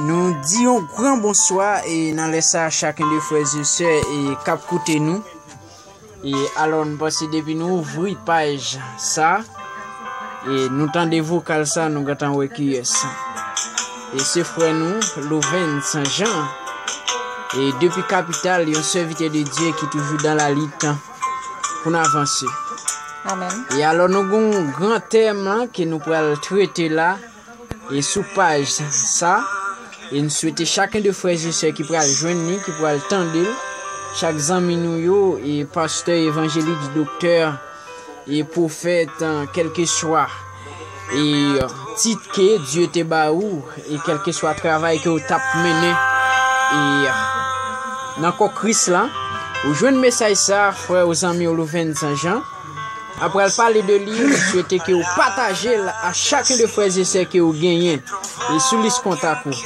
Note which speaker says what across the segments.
Speaker 1: Nou di yon gran bonswa e nan lè sa chakun de frè e sè e kap koute nou. E alò nou pase depi nou ouvri paj sa e nou tande vokal sa nou gantan wè ki yes. E se frè nou Louven San Jean e depi kapital yon sèvitè de Dye ki toujou dan la litan. pou n avanse. Amen.
Speaker 2: E alò nou
Speaker 1: gen yon gran tèm lan ke nou pral trete la e sou paj sa e n swete chaken de frè e sè ki pral jwenn li, ki pral tande l, chak zanmi nou yo e pastè, evanjelik, doktè e pwofèt, kèlkeswa. E tit ke Dye te ba ou, e kèlkeswa travay ke ou tap mennen, e nan kò Kris la, ou jwenn mesaj sa, frè ou zanmi ou Louventzan Jean, ap pral pale de li, m swete ke ou pataje l a chak de frè e sè ke ou genyen, e sou lis kontak ou.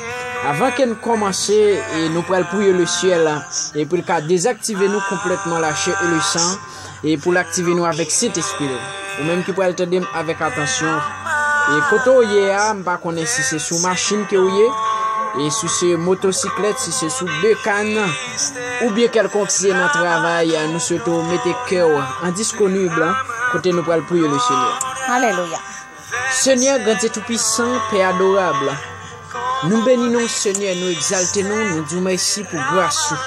Speaker 1: Avan ke n kòmanse, e nou pral priye le syèl, e pou l ka dezaktive nou konplètman la chè e le san, e pou l aktive nou avèk Sentespri l. Ou menm ki pral tande m avèk atansyon, e kote w ye a, m pa konnen si se sou machin ke ou ye, e si se motosiklèt, si se sou bekann, oubyen kèlkonk si se nan travay, nou swete w mete kè w an disponib kote nou pral priye Lesenyè. Alelouya.
Speaker 2: Senyè
Speaker 1: Grandye Toupisan, Pè Adorab, nou beni non ou Senyè, nou egzalte nou, nou di w mèsi pou gras ou,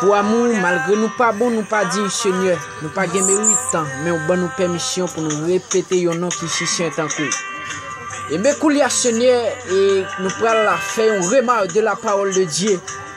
Speaker 1: pou amou ou, malgre nou pa bon, nou pa diy Senyè, nou pa gen merit, men ou ban nou pèmisyon pou nou repete yon non ki si sen tankou w. Eben koulye a Senyè, e nou pral fè yon remak de la pawòl de Dye.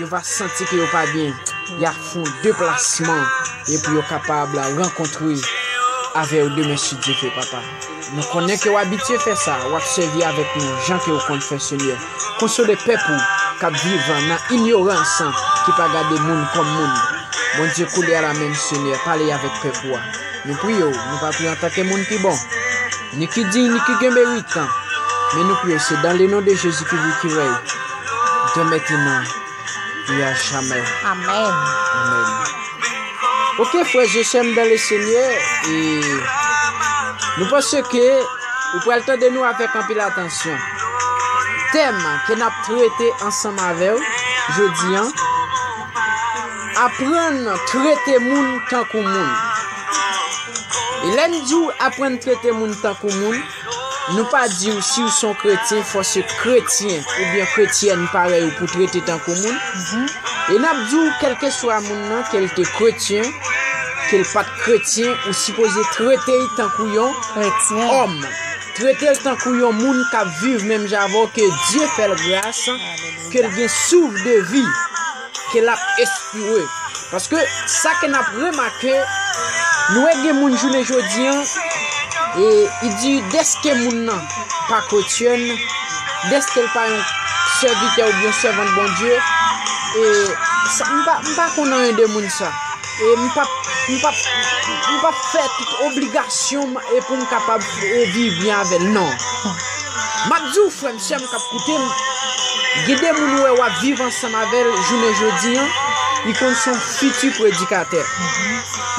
Speaker 1: Yo va santi ke yo pa byen. Ya fon deplasman epi yo kapab la rankontre avè yo demen si Dye ve papa. Nou konnen ke w abitye fè sa, w ap sèvi avèk nou jan ke ou konn fè Senyè. Konsole pèp ou k ap viv nan inyorans ki pa gade moun kòm moun. Bondye koulye a la menm Senyè pale avèk pèp ou a. Nou priye ou, nou pa priye antanke moun ki bon. Ni ki diy ni ki gen meritan men nou priye se dan le non de jezi ki vi ki rèy dè mentenan e a jamè Amen.
Speaker 2: amen
Speaker 1: ok frè ze sèm dan le senyè e nou panse ke ou pral tande nou avèk anpil atansyon tèm ke nap trete ansanm avèw jodi an Aprann trete moun tankou moun. E lè n di w aprann trete moun tankou moun, nou pa di w si w son kretyen fò se kretyen oubyen kretyèn parèy ou pou trete tankou moun. E n ap di w kèlkeswa moun nan ke l te kretyen, ke l pa t kretyen ou sipoze trete l tankou yon òm. Trete l tankou yon moun k ap viv menm jan avè w ke Dye fè l gras. Ke l gen souf de vi. Ke l ap espire. Paske sa ke n ap remake. Nou wè gen moun jounen jodi an. E i di deske moun nan pa kretyenn. Deske l pa yon sèvitè ou byen sèvant Bondye. E sa m pa konnen anyen de moun sa. E m pap, m pap, m pap fè tout obligasyon m e pou m kapab viv byen avè l. Non. M ap di w frè m, sè m k ap koute m, gen de moun ou wè w ap viv ansanm avè l jounen jodi an, li konn se yon fiti predikatè.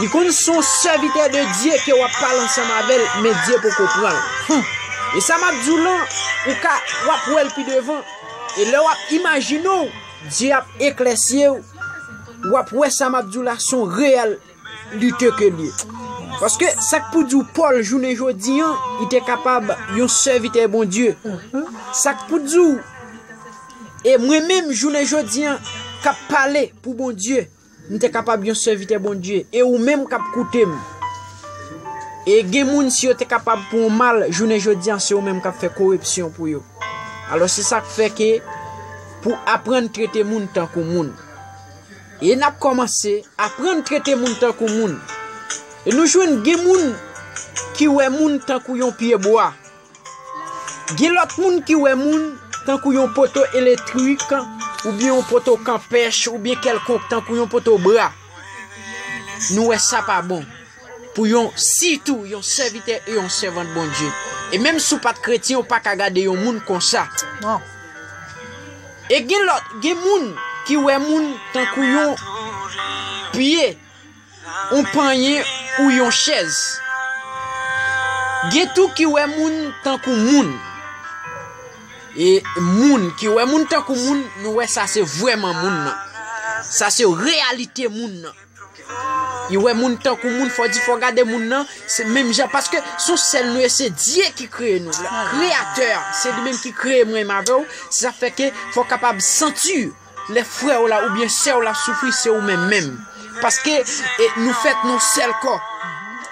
Speaker 1: Li konn se yon sèvitè de Dye ke w ap pale ansanm avè l, men Dye poko pran l. E sa m ap di w lan, ou ka, w ap wè l pi devan. E lè w ap imajine w, Dye ap eklèsi w. Wap wè sa map diw la son real lite ke liye. Paske sak pou diw Paul jounen jodi an li te kapab yon sèvitè Bondye. Sak pou diw e mwen menm jounen jodi an kap pale pou Bondye m te kapab yon sèvitè Bondye e ou menm kap koute m. E gen moun si yo te kapab pou ou mal jounen jodi an se ou menm kap fè korepsyon pou yo. Alos se sak fè ke. pou aprann trete moun tankou moun. E n ap kòmanse aprann trete moun tankou moun. E nou jwenn gen moun ki wè moun tankou yon pyebwa. Gen lòt moun ki wè moun tankou yon poto eletrik, oubyen yon poto kanpèch, oubyen kèlkonk tankou yon poto bra. Nou wè sa pa bon. pou yon sitou yon sèvitè e yon sèvant Bondye. E menm si w pa t kretyen ou pa ka gade yon moun konsa. Non. E gen lòt, gen moun ki wè moun tankou yon pye, yon panyen ou yon chèz. Gen tou ki wè moun tankou moun. E moun ki wè moun tankou moun, nou wè sa se vwèman moun nan. Sa se reyalite moun nan. Yo wè moun tankou moun fò di fò gade moun nan se menm jan paske son sèl nou ye se Dye ki kreye nou kreyatè se li menm ki kreye mwen m avè w se sa fè ke fò w kapab santi lè frè w la oubyen sè w la soufri se ou menm menm paske nou fèt nou sèl kò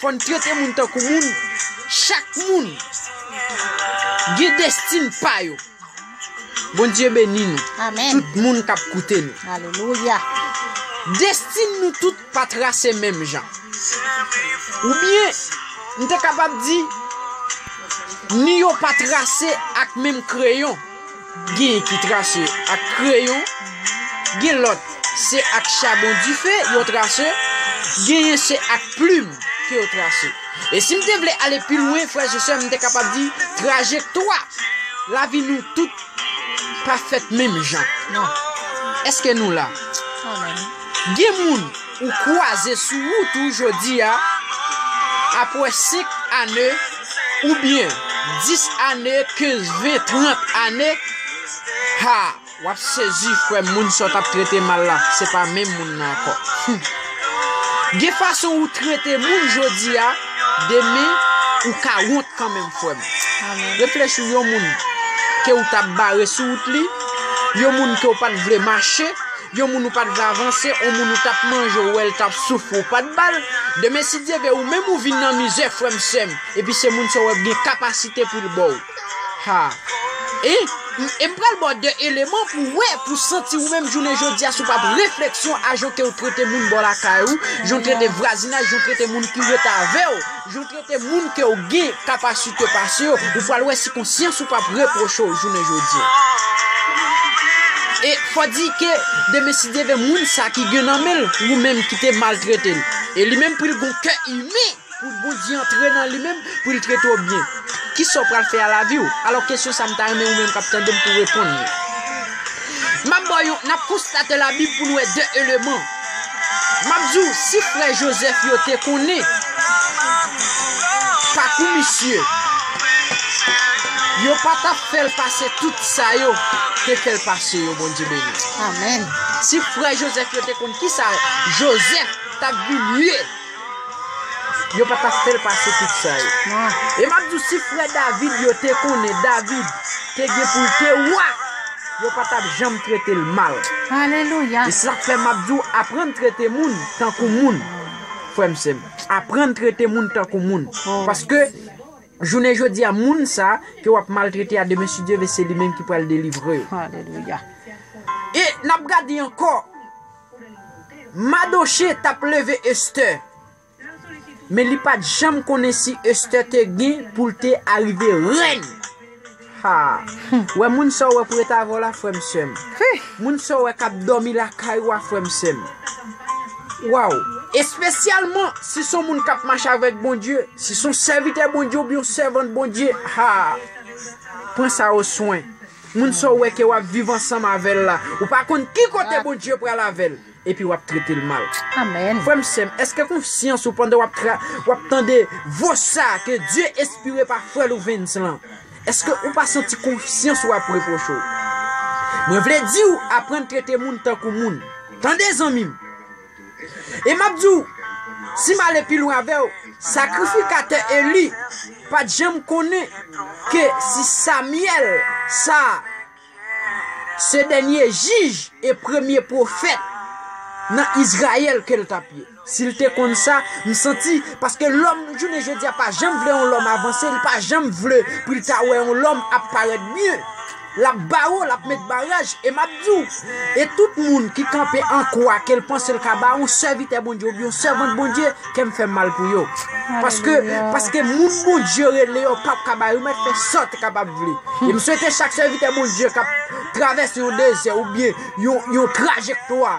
Speaker 1: Fòn trete moun tankou moun chak moun gen destin pa yo Bondye beni nou tout moun kap
Speaker 2: koute
Speaker 1: nou
Speaker 2: destin
Speaker 1: nou tout pa trase menm jan ou byen m te kapab di ni yo pa trase ak menm kreyon. Gen ki trase ak kreyon, gen lòt se ak chabon dife yo trase, genyen se ak plim ke yo trase. E si m te vle ale pi lwen, frèz e sèm, m te kapab di, trajektwa lavi nou tout pa fèt menm jan.
Speaker 2: Èske
Speaker 1: nou la?
Speaker 2: Gen moun.
Speaker 1: ou kwaze sou wout ou jodi a apwè 5 ane ou byen 10 ane 15 20 30 ane haa wap sezi frèm moun sa w tap trete mal la se pa menm moun nan ankò humm gen fason ou trete moun jodi a demen ou ka wont kanmenm frèm reflechi
Speaker 2: yon moun
Speaker 1: ke ou tap bare sou wout li yon moun ke ou pat vle mache. Yon moun ou pat vle avanse on moun ou tap manje ou wèl tap soufri ou pat bal demen si Dye vle ou menm ou vin nan mizè frèm sèm epi se moun sa ou wè gen kapasite poul baw ha e e m pral baw 2 eleman pou wè pou santi ou menm jounen jodia sou pap refleksyon a jan kew trete moun bò lakay ou jan trete vwazinaj jan trete moun ki ret avèw. Jan w trete moun ke w gen kapasite pase yo, ou pral wè si konsyans ou pap repwoche w jounen jodi a. E fò di ke demen si Dye vle moun sa ki gen nan men l, ou menm ki te maltrete l, e li menm pou l gon kè imen, pou Bondye antre nan li menm, pou l trete w byen. Kisa w pral fè a lavi w? Alò kesyon sa m ta renmen ou menm kap tande m pou w reponn li. Map ba w yon, nap konstate labib pou nou wè 2 eleman. Map di w si frè Joseph yo te konnen pakou misye yo pa tap fèl pase tout sa yo te fèl pase yo Bondye beni w. Amen.
Speaker 2: Si frè
Speaker 1: Joseph yo te konn kisa Joseph tap vin ye. Yo pa tap fèl pase tout sa yo. E map diw
Speaker 2: si frè
Speaker 1: David yo te konnen David te gen poul te wa yo pa tap janm tretel mal. Alelouya. E sak fè
Speaker 2: map
Speaker 1: diw aprann trete moun tankou moun frèm sèm. Aprann trete moun tankou moun. Paske jounen jodia moun sa ke wap maltrete a demen si Dye vle se li menm ki pral delivrew. Alelouya.
Speaker 2: E
Speaker 1: nap gade ankò. Madoche tap leve Esther men li pat janm konnen si Esther te gen poul te arive rèn haa humm wè moun sa ou wè pou ret avèw la frèm sèm moun sa ou wè kap dòmi lakay ou a frèm sèm waw espesyalman si son moun kap mache avèk Bondye si son sèvitè Bondye oubyen yon sèvant Bondye haa pran sa ou swen. Moun sa w wè ke wap viv ansanm avèl la ou pa konn ki kote Bondye pral avèl epi wap tretel mal frèm
Speaker 2: sèm eske
Speaker 1: konsyans ou pandan wap tande vo sa ke Dye espire pa frè Louvens lan eske ou pa santi konsyans ou ap reproche w mwen vle diw aprann trete moun tankou moun tande zanmim. E m ap di w, si m ale pi lwen avè w, sakrifikatè Eli pa t janm konnen ke si Samyèl sa a se dènye jij e premye pwofèt nan Izrayèl ke l t ap ye. Si l te konn sa, m santi, paske lòm jounen jodi a pa janm vle yon lòm avanse, li pa janm vle pou l ta wè yon lòm ap parèt byen. Lap ba ou, lap met baraj, e map di ou, e tout moun ki kanpe an kwa ke l panse l ka ba yon sèvitè Bondye oubyen yon sèvant Bondye, kè m fè mal pou yo. Paske, paske moun Bondye rele yo pap ka ba yo, yo mèt fè sa te kapab vle. E m swete chak sèvitè Bondye kap travèse yon dezè oubyen yon trajektwa,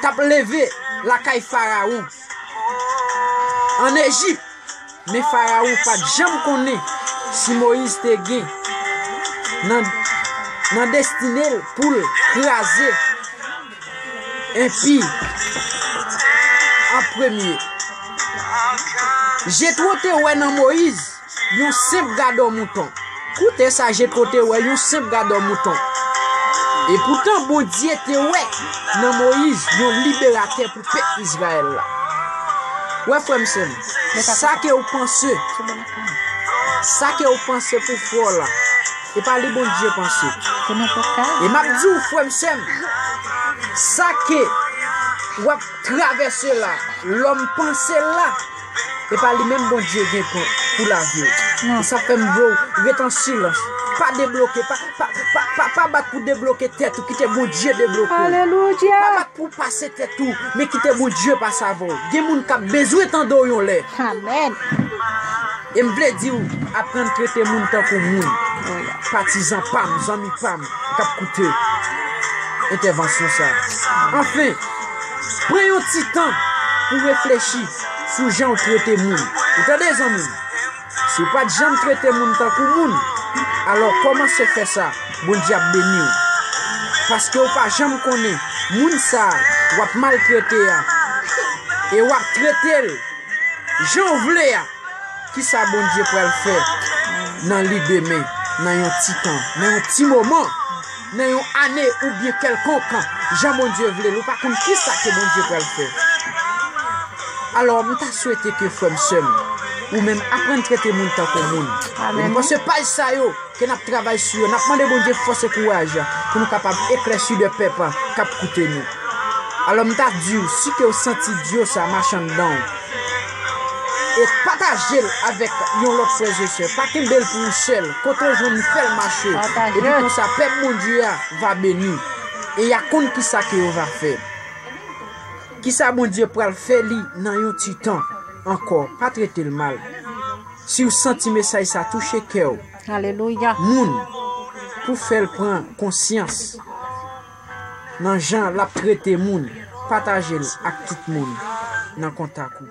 Speaker 1: t ap leve lakay Farawon ann Ejip, men Farawon pa t janm konnen si Moyiz te gen nan destine l pou l kraze enpi an premye. Jetwo te wè nan Moyiz Yon senp gadò mouton. Koute sa Jetro te wè, yon senp gadò mouton. Epoutan, Bondye te wè nan Moyiz yon liberatè pou pèp Izrayèl la. Ou wè, frè m, sè m, sa ke ou panse, sa ke ou panse pou fè w la, se pa li Bondye panse. E m ap di w, frè m, sè m, sa ke w ap travèse la, lòm panse l la, Epa li menm Bondye gen pou pou laviw. E sa fèm vlou ret an silans. Pa debloke pa pa pa pa pa bat pou debloke tèt ou kite Bondye debloke w. Alelouya. Pa bat
Speaker 2: pou pase
Speaker 1: tèt ou men kite Bondye pase avè w. Gen moun kap bezwen tande w yon lè. Amen. Em vle diw aprann trete moun tankou moun. Patizan pam, zanmi pam kap koute entèvansyon sa. Anfen, pran yon ti tan pou reflechi. sou jan ou trete moun. Ou tande zanmi m? Si w pa t janm trete moun tankou moun, alò kòmanse fè sa, Bondye ap beni w. Paske ou pa janm konnen moun sa a w ap maltrete a e w ap trete l jan w vle a, ki sa Bondye pral fè nan li demen, nan yon ti tan, nan yon ti moman. Nan yon ane ou byen kèlkonk jan Bondye vle l ou pa konn kisa ke Bondye pral fè. Alò m ta swete ke frè m sè m ou menm aprann trete moun tankou moun. Lè nou panse paj sa yo ke nap travay sou yo nap mande Bondye fòs e kouraj pou nou kapab eklèsi de pèp kap koute nou. Alò m ta di w si ke w santi dyo sa mache anndan w. E patajel avèk yon lòt frèz e sè. Pa kenbel pou ou sèl. Kote ou jwenn li fèl mache. Epi konsa pèp Bondye a va beni. E ya konn kisa ke yo va fè. Kisa Bondye pral fè li nan yon ti tan. Ankò pa tretel mal. Si ou santi mesaj sa touche kèw.
Speaker 2: Moun
Speaker 1: pou fèl pran konsyans. Nan jan lap trete moun. Patajel ak tout moun nan kontak ou.